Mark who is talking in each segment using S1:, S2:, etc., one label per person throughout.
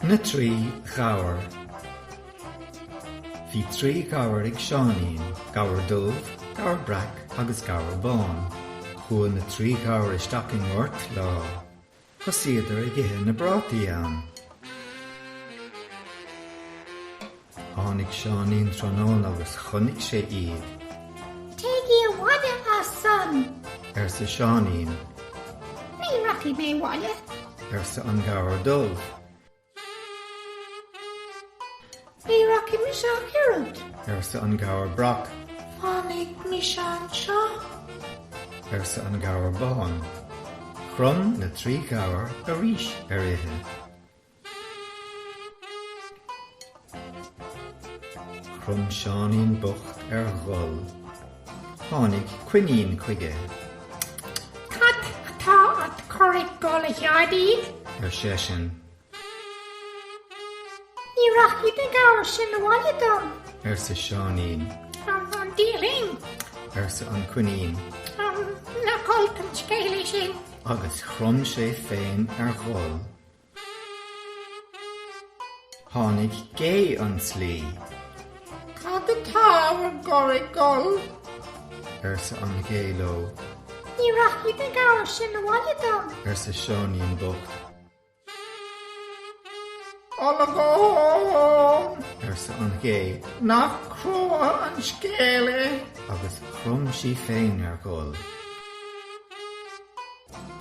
S1: Na trí ghabhair Bhí trí ghabhair ag Seáinín, gabhar dubh, gabhar breac agus gabhar bán. Chuaidh na trí ghabhair isteach i ngort lá. Thosaíodar ag ithe na bprátaí ann. Tháinig Seáinín tráthnóna agus chonnaic sé iad.
S2: Téigí abhaile as san. arsa
S1: Seáinín. Ní
S2: rachaidh mé abhaile. arsa an
S1: gabhar dubh.
S2: Ní rachaidh mise ach oiread. arsa an
S1: gabhar breac.
S2: Fanfaidh mise
S1: anseo. arsa an gabhar bán. Chrom na trí ghabhair arís ar ithe. Chrom Seáinín bocht ar ghol. Tháinig coinín chuige.
S2: Cad atá ad chur ag gol a Sheáinín? ar seisean. Ní rachaidh na gabhair sin abhaile dom. arsa
S1: Seáinín.
S2: Dia linn. arsa an
S1: coinín. Nach
S2: olc an scéal é sin. Agus chrom
S1: sé féin ar ghol. Tháinig gé an
S2: tslí. Cad atá bhur gcur ag gol?
S1: arsa an ghé leo. Ní
S2: rachaidh na gabhair sin abhaile dom. arsa
S1: Seáinín
S2: bocht. Olagón! arsa
S1: an ghé.
S2: Nach crua an scéal é? agus
S1: chrom sí féin ar ghol.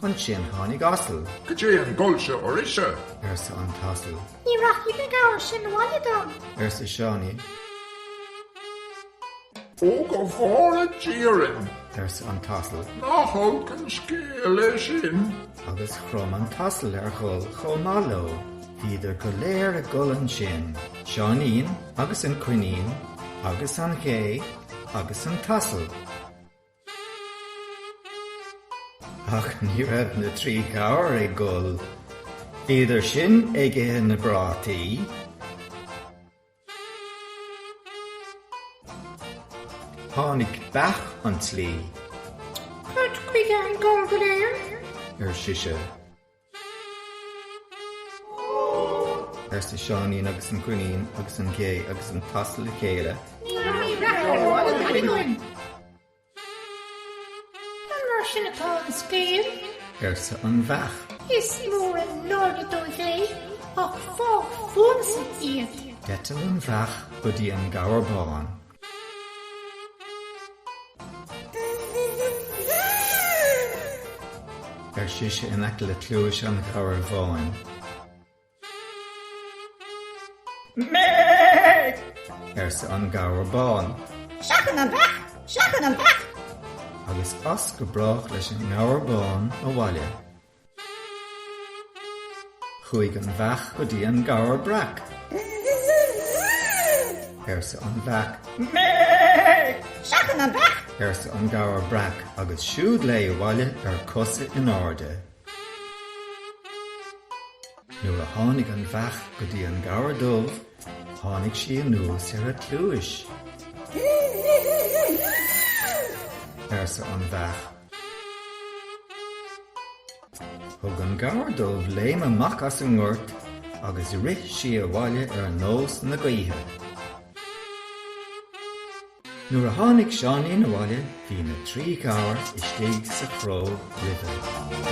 S1: Ansin tháinig asal. Cad é an
S3: gol seo oraibhse? arsa
S1: an t-asal. Ní rachaidh na
S2: gabhair sin abhaile dom. arsa Seáinín.
S3: Ó go bhfóire Dia orainn! arsa an t-asal.
S1: Nach olc
S3: an scéal é sin! Agus
S1: chrom an t-asal ar ghol chomh maith leo. Bhíodar go léir ag gol ansin, Seáinín agus an coinín agus an ghé agus an t-asal. Ach ní raibh na trí ghabhair ag gol. Bhíodar sin ag ithe na bprátaí. Tháinig beach an
S2: tslí. Cad chuige an gol go léir? ar sise.
S1: arsa Seáinín agus an coinín agus an ghé agus an t-asal le chéile.
S2: An mar sin atá an scéal? arsa
S1: an bheach. Is
S2: mór an náire dóibh é ach fág fúmsa iad. D'eitil an bheach
S1: go dtí an gabhar bán. ar sise in aice le cluais an Ghabhair Bháin. Mé! arsa an Gabhar Bán. Seachain
S2: an bheach! Seachain an bheach! agus
S1: as go brách leis an nGabhar Bán abhaile. Chuaidh an bheach go dtí an gabhar breac. arsa an bheach. Mé!
S2: Seachain an bheach! arsa an gabhar
S1: breac agus siúd léi abhaile ar cosa in airde. Nuair a tháinig an bheach go dtí an gabhar dubh tháinig sí anuas ar a cluais. arsa an bheach. Thug an Gabhar Dubh léim amach as an ngort agus rith sí abhaile ar nós na gaoithe. Nuair a tháinig Seáinín abhaile bhí na trí ghabhar istigh sa chró roimhe.